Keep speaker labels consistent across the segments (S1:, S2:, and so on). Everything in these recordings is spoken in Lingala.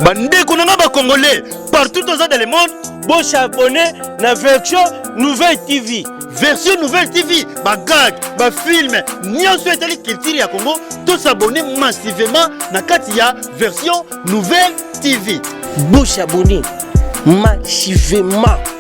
S1: bandeko na ngai bacongolais partout toza dans le monde bosabone na version nouvelle tv version nouvelle tv bagag bafilme nyonso etali culture ya congo tosabone massivement na kati ya version nouvelle tv bosabone massivement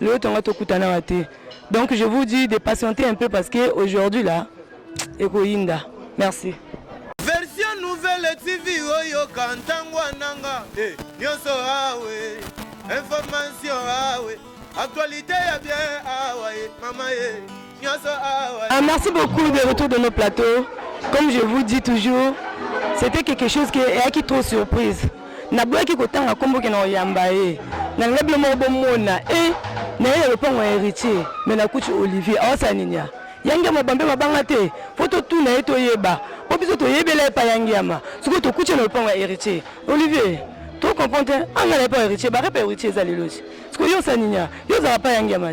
S2: Lelo tonga tokutana wa te. Donc je vous dis de patienter un peu parce que aujourd'hui là ekoyinda. Merci. Version
S3: nouvelle TV oyo kantango ananga eh, nyoso awe information awe actualité ya bien awa eh, mama ye eh. Ah, merci beaucoup de
S2: retour de nos plateaux. Comme je vous dis toujours, c'était quelque chose qui est qui trop surprise. Na boya ki kotanga kombo ke na oyamba ye. Na ngabi mo bo mona et eh, na ye le pont héritier mais na kuchi Olivier awasa ninya. Yange mo bambe mabanga te. Foto tout na ye to yeba. Po biso to yebela pa yange yama. Siko to kuchi na le pont héritier. Olivier to comprendre anga na pa héritier ba repa héritier za leloji. Siko yo sa ninya. Yo za pa yange yama.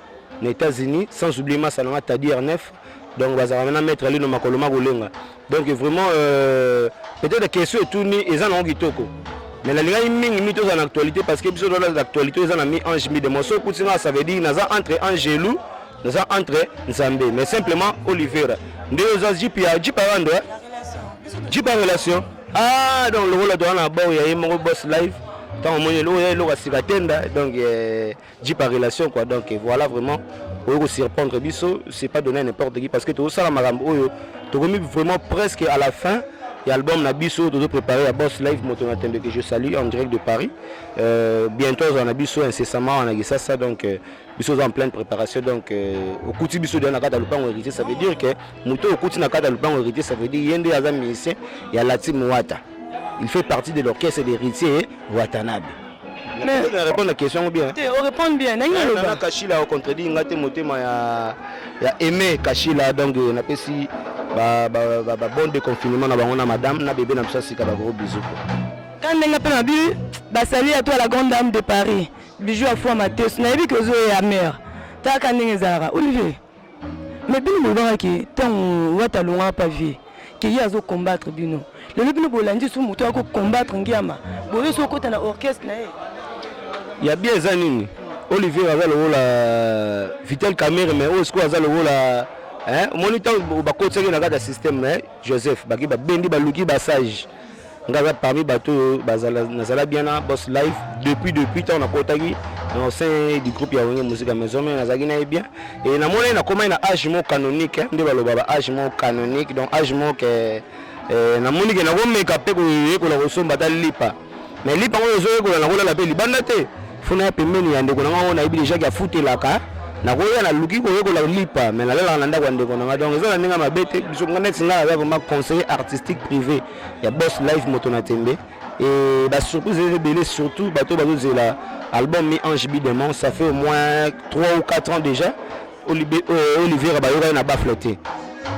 S4: na États-Unis sans oublier masa nanga Tadi R9 donc bazalaka na maître Alino makolo makolenga donc vraiment euh, peut-être question etuni eza nango kitoko mais nalingaki mingi mi tozala na actualité parce que biso toza na actualité eza na mi ange mi demon soki okuti nga ça veut dire naza entre angelu naza entre nzambe mais simplement olivera nde oza jip ya jip ya bando jip ya relation ah donc lokola toza na bao ya ye moko boss live ntango omoni eloko ya eloko ya sika tenda donc eh, jipa relation quoi donc voilà vraiment oyo ko surprendre biso c'est pas donné n'importe qui parce que to sala makambo oyo to komi vraiment presque à la fin ya album na biso tozo préparer ya boss live moto na tembe que je salue en direct de Paris euh, bientôt azala na biso incessamment wana kisasa donc euh, biso oza en pleine préparation donc euh, okuti biso deya na kati ya lopango héritier ça veut dire que moto oyo okuti na kati ya lopango héritier ça veut dire ye nde aza musicien ya latim wata il fait partie de l'orchestre d'héritier watanabe Mais na répondre la question bien. Te, on répond bien. Na
S2: yelo. Na Kashila au
S4: contredit ngate motema ya ya aimer Kashila donc na pesi ba ba ba, ba bon de confinement na bango na madame na bébé na biso sika ba gros bisous. Quand ndenge
S2: pe na bi ba salut à toi la grande dame de Paris. Bijou à foi mateus. Na yebi que zo ya mère. Ta ka ndenge zara. Olivier. mais bino bolobaka ke ntango wata alongaka pa vie ke ye azo combattre bino lelo bino bolandi su moto yako combattre ngiama boye so okota na orchestre na ye ya
S4: bien eza nini olivier aza lokola euh, vitel camere mais oyo sikoyo aza lokola omoni ntango bakotisaki na kati ya systeme mais joseph baki babendi baluki basage nga aza parmi bato oyo nazala bien na boss live depuis depuis ntango nakotaki na sein du groupe ya wenge mosika maison mai nazalaki na ye bien e namonaki nakomaki na age moko canonique eh, nde baloba ba age moko canonique donc age moko ke eh, eh, namoni ke nakomeka mpe koyekola kosomba ata lipa mais lipa yango ezoyekola nakolala mpe libanda te fona ya pembeni ya ndeko na ngai oyo nayebi deja ke afutelaka nakoya naluki koyekola lipa mais nalalaka na ndako ya ndeko na ngai donc eza na ndenge mabe te biso neti ngai naza vraiment conseiller artistique privé ya boss live moto na tembe et ba surprise eza ebele surtout bato bazozela album mi ange bidemon ça fait au moins 3 ou 4 ans déjà euh, olivier abayokaki na bafle te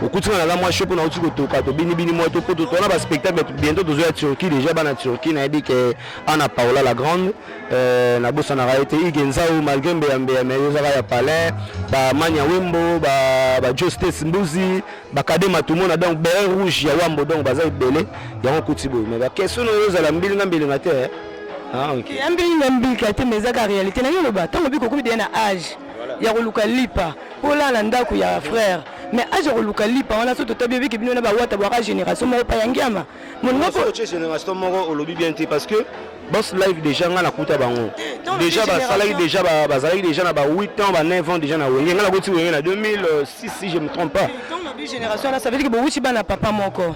S4: okutina naza mwa sho mpo nauti kotoka tobinibini mwa to mpo totona baspectacle bientôt tozoya turquie déjà bana turquie nayebi ke ana paola la grande euh, nabosanaka ye te ige nzau malgré mbeyambeya mai ezaka ya palais bamania wembo bajo states mbuzi bakade matumona donc beret rouge ya wambo donc baza ebele yango okuti boye me bakestion oyo ozala mbilinga mbilinga te eh? ah, ya mbilinga mbilika te me
S2: ezaka réalité na yo loba ntango obi kokomi deya na age ya koluka lipa mpo olala na ndako ya frère me age ya koluka lipa wana so totabi obiki bino na bawata bwaka génération moko pa ya ngiama moningaogénération moko
S4: olobi bien te parce que Boss live déjà nga nakuta bango déjà basalaki déjà bazalaki déjà na ba 8 ans ba 9 ans déjà na wenge nga nakuti wenge na 2006 si je me trompe pas donc na bi génération na
S2: ça veut dire que bowuti bana papa moko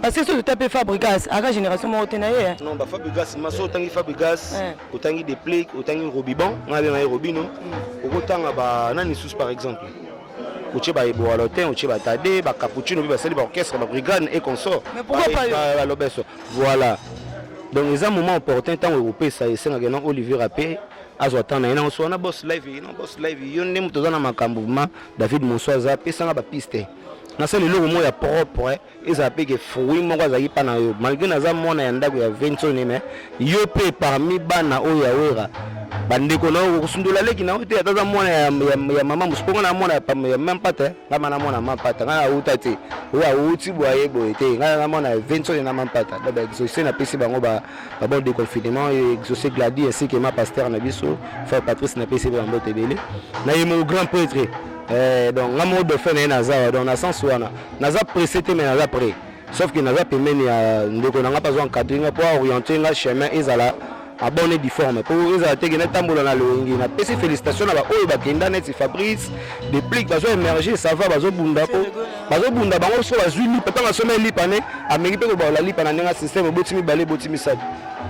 S2: parce que soki otape fabrigas aka génération moko te na ye eh. non bafabrigas maso
S4: otangi fabrigas eh. otangi deplic otangi robiban nga abenga ye robino mm. okotanga banani susu par exemple otie baeboalotin otie batade bacapuccino mpe basali baorchestre babrigane et consort
S2: balobeso Voilà.
S4: Donc eza moment opportun ntango ekopesa esengaka na Olivier ape azwa temps na ye nango soa na boss live na boss live yo nde moto oza na makambo ma David Monso aza pesanga ba piste nasala eloko moko ya propre ezala mpe ke fruit moko azalaki mpa na yo malgre naza mwana ya ndako ya vensone me yo mpe parmi bana oyo ya wera bandeko na yo okosundola leki na yo te ata aza mwana ya, ya, ya mama mosuponga na mwana ya, ya mempate nga mana mwana mampata nga awuta te oyo awuti boye boye te nga na mwana vincent na mampata donc exauce napesi bango ba bon déconfinement exauce gladi ainsi que ma pasteur na biso frère patrice napesi bango mbote ebele na ye mon grand prêtre eh, donc nga moko dauphin na ye naza wa donc na sens wana naza pressé te mais naza prêt sauf que naza pembeni ya ndeko na nga mpe azwa encadre nga mpo aoriente nga chemin ezala abone difforme po ezala te kende tambola na loyenge na pesi félicitation na baoyo bakenda neti fabrice deplic bazo émerger sava bazobunda po bazobunda bango so bazwi lipa ntango asomai lipa ne ameki mpe kobaola lipa na ndenge système eboti mibale eboti misato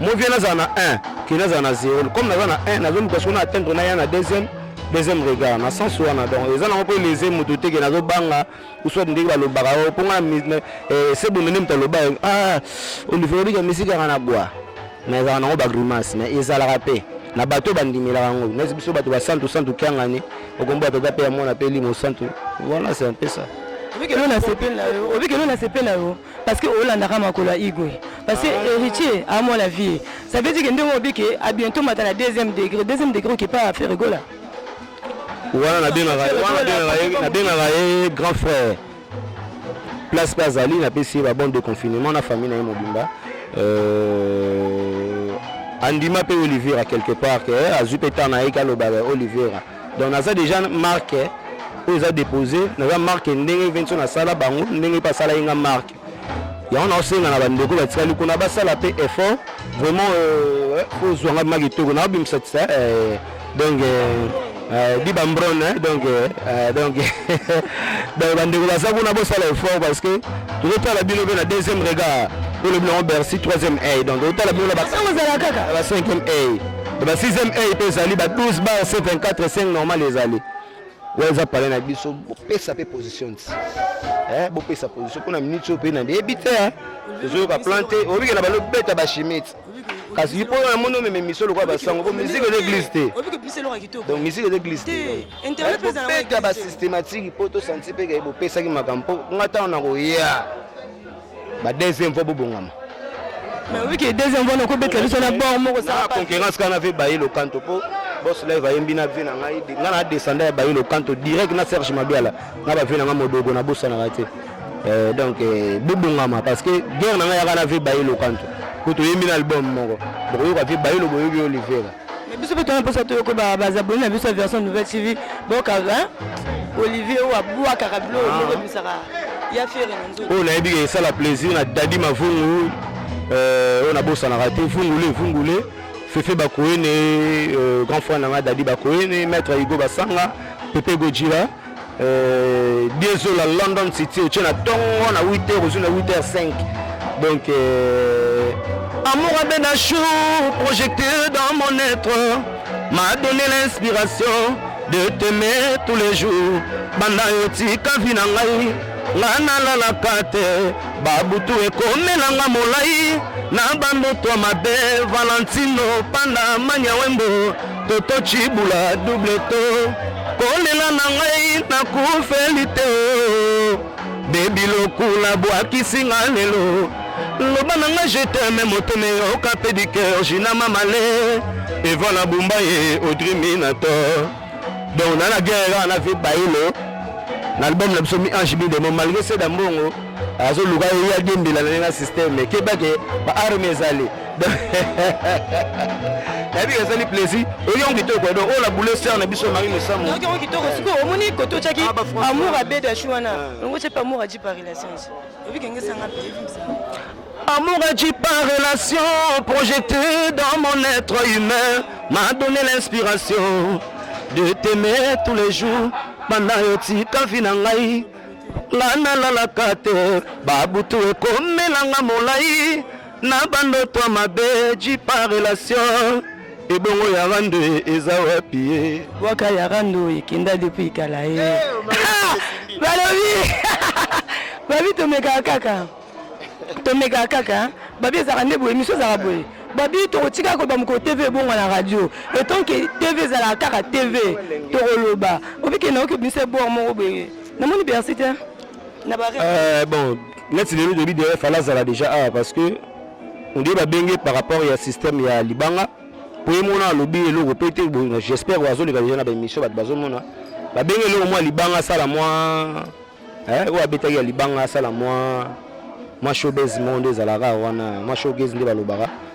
S4: mo vie nazala na 1 ke nazala na 0 comme naza na 1 nazoluka soko na atteindre na ya na deuxième deuxième regard na sens wana donc eza nango mpo elese moto te ke nazobanga soit ndenge balobaka oh, mpo nga eh, se bonde nde moto aloba eh, ah, olivier obika misiki yanga na bwa mais ezalaka nango bagrimace mais ezalaka mpe na bato bandimelaka yango neti biso bato basantu santu kiangani okombo ya tata mpe ya mwana mpe limo santu wana se mpe sa obikelo na sepe
S2: na yo obikelo na sepe na yo parce que olandaka makolo ya igwe parce que ah. héritier amona vie ça veut dire que ndenge obike a bientôt mata na deuxième degré deuxième degré okipa ya ferigola
S4: wana nabengaka ye grand frère place mpe azali napesi ye babande de confinement na famille na ye mobimba euh, andima mpe olivera quelque part ke eh, azwi mpe ntan na ye kalobaka olivera donc naza déjà marque oyo eza dépose naza marque ndenge vention nasala bango ndenge mpe asala ye nga marque yango naosenga na bandeko batikali kuna basala mpe effort vraiment euh, ozwa ngai ma kitoko naobimisa tisa euh, donc euh, di bambron donc donc donc bandeko baza kuna bosala effort parce que tozotala bino mpe na deuxième regard olobi nango bercy troisième a donc otala bino na ba cinquième a na ba sixième a mpe ezali ba 12 bar c 24 5 normal ezali oyo eza pale na biso bopesa mpe position ti eh, bopesa position mpo na minute oyo mpe na yebi te eh. tozoyoka plan te obikela balo beta bashimi ti kasi mpo na moni omema emission lokola basango mpo musique eza église te donc musique eza église tebeta basystématique mpo tosanti mpe kaye bopesaki makambo mpo nga ntango nakoya ba deuxième fois bobongama mais oui
S2: que deuxième fois nakobetela biso na bord moko sa ah, concurrence kana ve baye
S4: lokanto po boss live ayembi na vie na ngai ngai na descenda ya baye lokanto direct na serge mabiala na ba vie na ngai modogo na bosanaka te euh, donc euh, bobongama parce que guerre na ngai yaka na vie baye lokanto po toyembi na album moko bokoyoka vie baye loboyoki olivera Mais biso pe tona posa
S2: toyoko ba ba abonnés na biso ya version nouvelle TV boka hein Olivier ou aboua karablo ah. moko bisaka ya fière na nzoto. Oh na yebi que ça la
S4: plaisir na Daddy Mavungu euh on a bossa na raté Vungule Vungule Fefe Bakoene euh, grand frère na nga Daddy Bakoene maître Igo Basanga Pepe Gojira Euh, diezo la london city otie na ntongo na 8 heure ozwi na 8 heure 5 donc euh... amour abenda chou projecté dans mon être m'a donné l'inspiration de t'aimer tous les jours banda yo tika vi na ngai nga nalalaka te babutu ekomelanga molai na bandoto mabe valentino panda manya wembo Toto Tshibula double to kolela na ngai nakufeli te o bebi lokula bwakisi nga lelo loba na nga je t'aime motema eyoka mpe du cœur jina mamale eva na bumba ye audrey minator donc na na guerre kaka na vie bayilo na album na biso mi ange bidemo malgré seda mbongo azoluka ye ya diembela na ye na systeme kebake ba arme ezali nayebi ezali plaisir oyongo kitoko edo oyo na boule ser na biso mari mesamoyongo kitoko sikoyo
S2: omoni kote otyaki ah, amour abedashi wana ah. yango tyepe amour aji par relation obikengesanga mpe
S4: Amour agit par relation, projeté dans mon être humain, m'a donné l'inspiration de t'aimer tous les jours. Banda yo tika vi na ngai, nga nalalaka te, babutu ekomelanga molai na bandoto ya mabe jipa relation ebongo ya rando eza wapi ye bwaka ya rando
S2: ekenda depuis kala ye eh, balobi babi tomekaka kaka tomekaka kaka babi ezalaka nde boye miso ezalaka boye babi tokotika koloba mokolo tv ebonga na radio etant ke tv ezalaka kaka tv tokoloba obikende oke biso ebor moko boye namoni bersi te Euh, bon neti
S4: lelo toyebi deja fale azala deja awa parce que ondie babenge par rapport ya système ya libanga mpo ye mona alobi eloko mpe te j'espère azoleka deja na baémission bato bazomona babenge eloko mwa libanga asala mwa eh, oyo abetaki ya libanga asala mwa mwa showbase moko nde ezalaka wana mwa showbase nde balobaka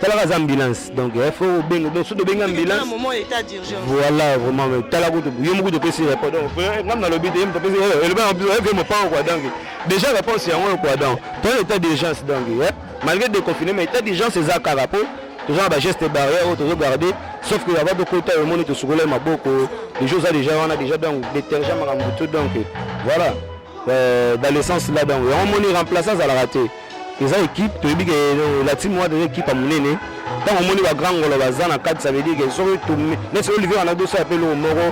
S4: talaka aza ambulance donc il faut obenga donc soki tobengi ambulance
S2: voilà vraiment mais
S4: tala kutu yo mokutu opesi réponse donc ngai nalobi te ye moto apesi elobi na biso eve mopango kua donc déjà réponse yango oyo kua donc toza état d'urgence donc malgré déconfiné mais état d'urgence eza kaka mpo toza na bageste barrière oyo tozo garde sauf que ava tokota yo omoni tosukolai maboko deja oza déjà wana déjà donc détergent makambo tout donc voilà euh, dans le sens là donc yango omoni remplaçant azalaka te eza ekipe toyebi ke la team wana eza ekipe ya monene ntango omoni bagrand ngolo baza na kati ça veut dire ke soki neti olivier wana tosala mpe eloko moko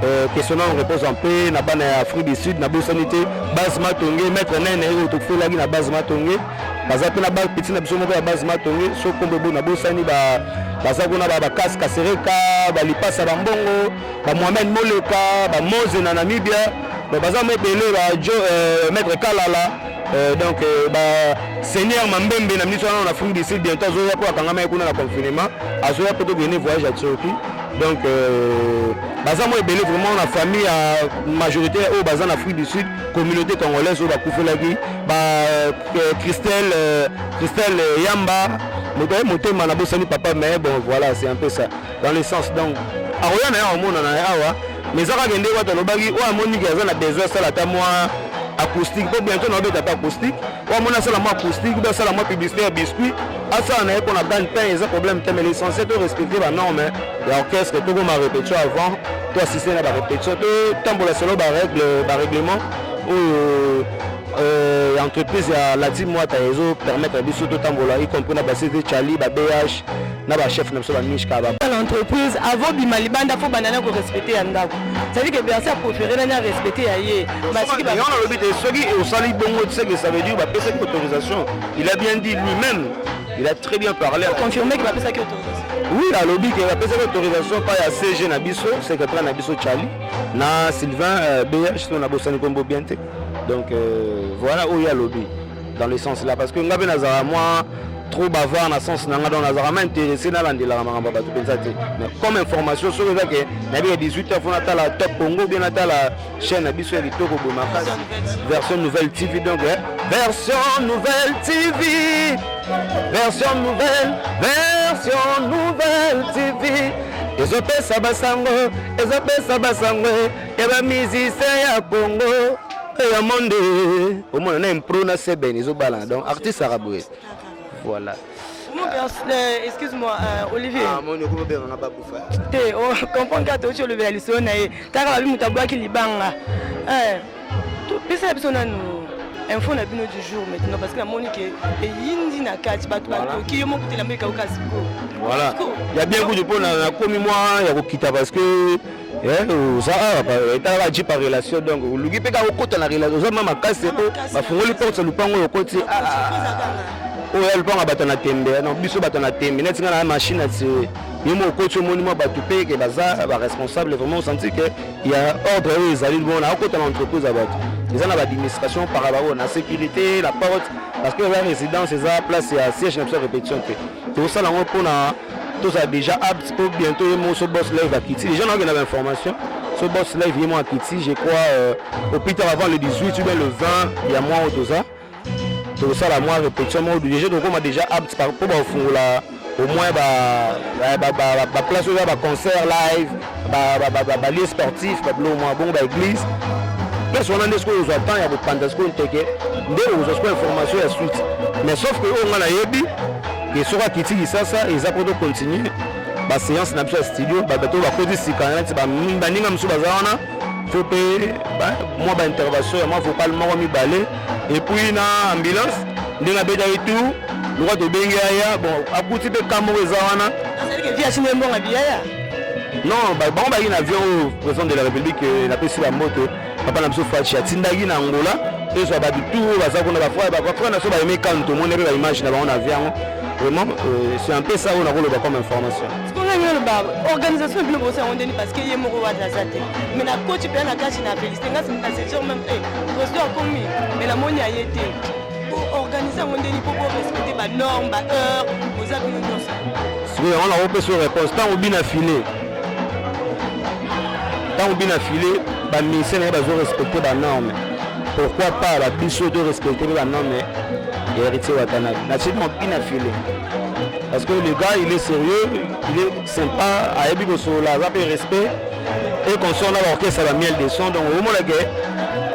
S4: euh, question nano réponse mpe na bana ya afrique du sud nabosani te base matonge maître nene oyo tofelaki na base matonge baza mpe na bapeti na biso moko ya base matonge so kombo bo nabosani baza kuna bakasi kasereka balipasa bambongo bamohamed moleka bamoze na namibia baza mwa ebele ba euh, maître kalala Euh, donc euh, ba seigneur mambembe na ministre wana na afrique du sud bientôt azoya mpo akangama ye kuna na confinement azoya mpo tokende voyage ya turquie donc euh, baza mwa ebele vraiment na famille ya majorité oyo oh, baza na afrique du sud communauté congolaise oyo oh, bakufelaki ba christelle christelle yamba motema nabosani papa mais bon voilà c'est un peu ça dans le sens donc akoya na ye akomonana ye awa mais eza kaka ndenge wato alobaki oyo amoni ke aza na besoin asala ata mwa acoustique mpo bientôt na obeta ata acoustique oyo amoni asala mwa acoustique mpe asala mwa publicité ya biscuit asala na ye mpo na gagne pain eza problème te mais l'essentiel to respecter banorme ya orchestre tokoma répétition avant to assiste na barépétition totambola solo barèglement oyo euh, entreprise ya latim wata ezo permettre biso totambola y compris na basete chali ba bh na ba chef na biso ba mishka ba na entreprise avant
S2: bima libanda faut banda na ko respecter ya ndako c'est-à-dire que Bercy a préféré na na respecter ya ye ba soki ba on lobi
S4: te soki au sali bongo tu sais que ça veut dire ba pesa ki autorisation il a bien dit lui-même il a très bien parlé confirmer que ba pesa ki
S2: autorisation oui alobi ke
S4: bapesaki autorisation epai ya cg na biso secrétaire na biso charlie na sylvain euh, bh to nabosani kombo bien te donc euh, voilà oyo alobi dans le sens là parce que nga pe nazala moi trop bavard na sens na nga donc nazalaka ma intéressé nalandelaka makambo ya bato mpenza te mais comme information soki eza ke nayebika 18 heures mpo natala top congo bien natala chaîne na biso ya kitoko boye makasi version nouvelle tv donc eh. version nouvelle tv version nouvelle version nouvelle tv ezopesa basango ezopesa basango ya bamizisien ya congo Eh, ya monde omona na impro na seben ezobalana donc artiste aka boye voilà euh,
S2: excuse-moi euh, olivier ah, moni okomi obenganga
S4: babufa te oh, comprendre
S2: kaka touti olobela lisolo na ye kaka babi moto abwaki libanga eh, pesala biso nanu info na bino du jour maintenant parce que namoni ke eyindi na kati bato batoki yo moko telamo ekauka siko voilà
S4: ya bien kutu mpo nakomi mwa ya kokita parce que Eh, oza awa etala ba jipa relation donc oluki mpe kaka okota na relation oza ma makasi po bafungoli porte ya lupango oyo okoti ah, ah, ah. oyo ya lupango ya bato na tembe eh, no biso bato na tembe neti nga na machine ya tire yo mo okoti omoni mwa bato mpe ke baza baresponsable vraiment osanti ke ya ordre oyo ezali bongo na okota na entreprise ya bato eza na baadministration par rapport oyo na sécurité la porte parce que eza résidence eza place ya siège na biso ya répétition te tosala yango mpona tozala déjà apte mpo bientôt ye moko so boss live akiti déjà naokenda bainformation so boss live ye moko akiti je crois euh, au plus tard avant le 18 ou bien le 20 ya mois oyo toza tokosala mwa répétition moko déjà tokokoma déjà apte mpo bakofungola au moins baplace oyo ya baconcert live balie sportif babilo mwa bongo ba église place wana nde sikoyo ozwa temps ya kopanza sikoyo nteke nde ozwa sikoyo information ya suite mais sauf que oyo ngai nayebi ke soki akiti lisasa eza mpo tocontinue baseance na biso ya studio bato bakoti sika neti baninga mosusu baza wana fo mpe mwa baintervention ya mwa vocal moko mibale epuis na ambulance ndenge abetaki tour lokola tobengi aya bon akuti mpe kamoko eza wana
S2: non
S4: bango bayi na avion oyo président de la république euh, napesi bango te papa na biso faci atindaki na angola tozwa bato tu oyo baza kuna bafrère na biso bayemi kano tomoni mpe baimage na bango na avion yango vraiment euh, c'est un peu ça oyo nakoloba comme information ndenge oloba
S2: organisation ebino bosi yango ndeni parce que ye moko wana aza te mais na koti mpe na kati na félicité ngasi na sejour même te eh, président akomi mais namoni aye te boorganize yango ndeni mpo borespecte banorme baheure boza bino nyonso sikoyo yango nango
S4: mpe so réponse ntango bina file ntango bina file baministère naye bazo respecte banorme pourquoi pas la biso de respecter la non mais héritier Watanabe. Naturellement, il a filé. Parce que le gars, il est sérieux, il est Sympa ayebi kosolola aza mpe respect et consort na baorchestre ya miel de son donc omona ke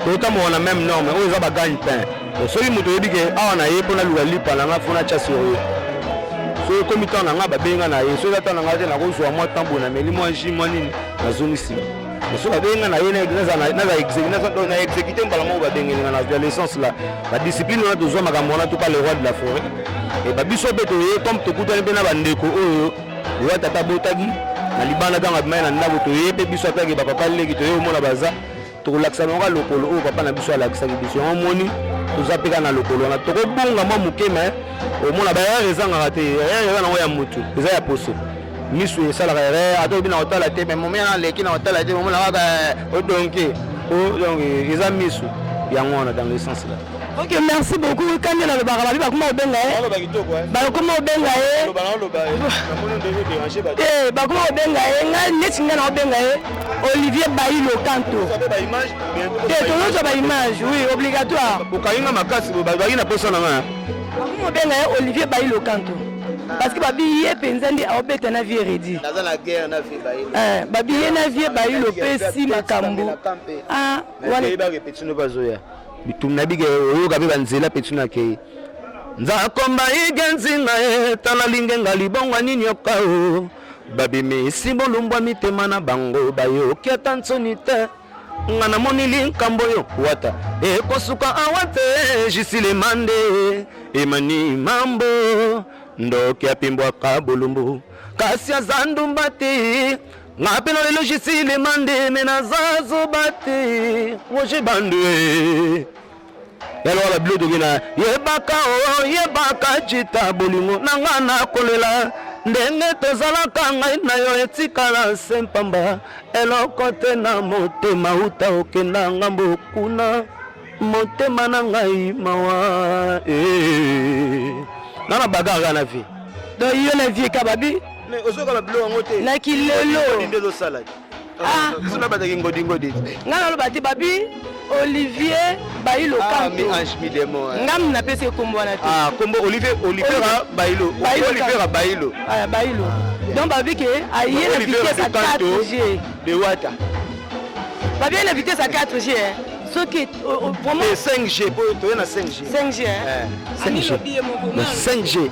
S4: totambola na même norme oyo eza bagagne pain soki moto oyebi ke awa na ye mpo naluka lipa na ngai mpo natya sur ye soki ekomi ntango na ngai babenga na ye soki eza ntango na ngai te nakozwa mwa ntambo nameli mwa ji mwa nini nazongi nsima mosusu babenga na ye na exécuté mbala moko babengeli nga na adolescence la badiscipline wana tozwa makambo wana topa le roi de la forêt eba biso mpe toye comme tokutani mpe na bandeko oyo oyo tata abotaki na libanda ntango abimai na ndako toye mpe biso atake bapapa leki toye omona baza tokolakisa bango lokolo oyo papa na biso alakisaki biso yango omoni toza mpe kaka na lokolo wana tokobunga mwa moke mai omona bayare ezangaka te yare eza nango ya motu eza ya poso misu esalaka erreur ata oyebi na kotala te me momi ana aleki na kotala te momona kaka eh, odonke po donc eza misu yango wana dans le sens là ok merci
S2: beaucoup kande nalobaka babi bakoma kobenga ye bakoma kobenga ye te bakoma kobenga ye ngai neti ngai nakobenga ye olivier bayi lokanto te tozozwa baimage oui obligatoire bokangi nga makasi bobaki na posa na ngai bakomi kobenga ye olivier bayi lokanto parce que babi ye mpenza nde aobeta na vie redi
S3: eh, babi ye na vie
S2: bayi lopesi makambo ah,
S4: bazoya bitum na bige oyoka mpe banzela mpe tuna akei nzakomba ige nzinga ye tala lingenga libongo nini yoka o babimisi bolumbwa mitema na bango bayoki ata nsoni te nga na moni likambo yo wata ekosuka awa te jisilemande emani mambo ndoki apimbwaka bolumbu kasi aza ndumba te nga mpe na lelo jisilemande me naza zoba te roger bandue yalo wana bilo toke na yebaka o yebaka jita bolingo na nga nakolela ndenge tozalaka ngai na yo etikala se mpamba eloko te na motema uta okenda ngambo kuna motema na ngai mawa eh. nga na bagaka na vie to yo na vie
S2: kababi
S4: na kilelo Ah. biso na bataki ngodingodi ngai naloba te
S2: babi olivier bailo ah, kanto ngam napesi ekombo wana te ah, kombo olivier
S4: olivera bailo olivera bailo bailo
S2: donc babi ke aye na vitesse ya 4 g de wata babi aye na vitesse ya 4 g soki vraiment 5 g po
S4: toye
S2: na
S4: 5 g 5 g 5 g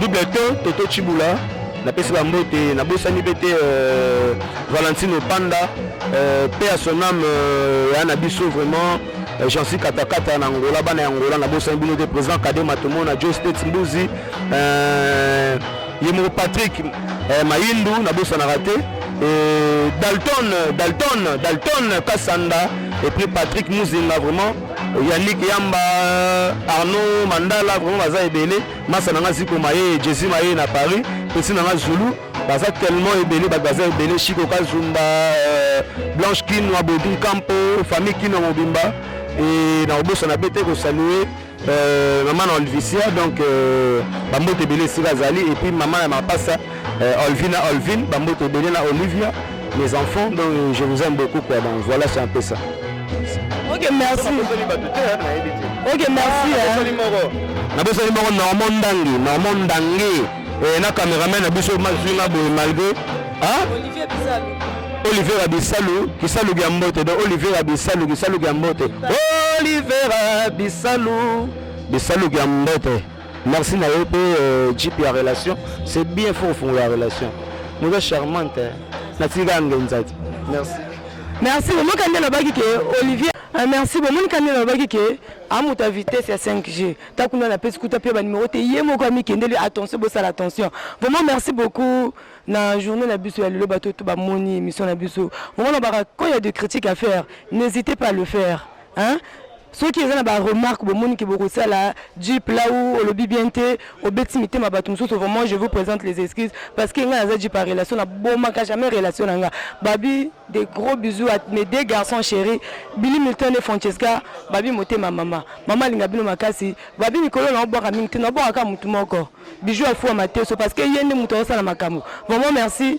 S4: Double ton Toto Chibula napesi bambote nabosani mpe te euh, valentino panda euh, pe ya son ame euh, ya na biso vraiment jansi katakata na angola bana ya angola nabosani bino te président kade matomona jo state mbuzi ye moko patrick mayindu nabosanaka te dalton dalton dalton kasanda et puis patrick muzinga vraiment Yannick Yamba, Arnaud Mandala, vraiment baza ebele. Masa nanga ziko maye, Jesse maye na Paris, pesi nanga Zulu, baza tellement ebele, ba baza ebele Chico Kazumba, euh, Blanche Kinwa, Bodin Campo, famille Kinwa mobimba et na obosa na bete ko saluer euh, maman na Olivisia donc euh, bambote ebele esika azali et puis maman ya mapasa Euh, Olvina, Olvin, Bamboto Benena, Olivia, mes enfants, donc euh, je vous aime beaucoup. Quoi. Donc voilà, c'est un peu ça. Ok,
S2: merci. Ok, merci.
S4: nabosani moko normand ndangi normand ndangi eh, na cameraman na biso mazwi nga boye malgré olivier abisalu kisalu kya mbote donc olivier abisalu kisalu kya mbote olivier abisalu bisalu kya mbote Merci na yo pe euh, jeep ya relation. C'est bien faut kofungola relation. Moza charmante. Hein. Natika ngenza te. Merci.
S2: Merci. Omo kandi alobaki ke Olivier ah, merci bomoni kandi alobaki ke amoto ya vitesse ya 5G ta kuna na pesi kuta pe ba numero te ye moko amikendeli attention bosala attention. Vraiment merci beaucoup na journée na biso ya lelo bato to bamoni émission na biso. Omona baka quand il y a de critiques à faire, n'hésitez pas à le faire. Hein? soki eza na ba remarque bomoni ke bokosala jeep là où olobi bien te obeti mitema bato mosusu vraiment je vous présente les excuses parce que ngai naza jeep ya relation na bomaka jamais relation na nga babi des gros bisous à mes deux garçons chéri Billy Milton et Francesca babi motema mama mama alinga bino makasi babi mikolo na obwaka mingi te na obwaka kaka motu moko bijou afuwa mateso parce que ye nde moto akosala makambo vraiment merci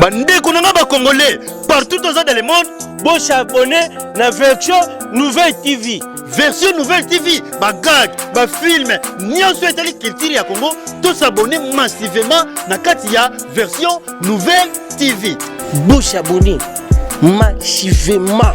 S1: bandeko na nga bacongolais partout toza dans le monde bosabone na version nouvelle tv version nouvelle tv bagag bafilme nyonso etali culture ya congo tosabone massivement na kati ya version nouvelle tv bosabone
S5: massivement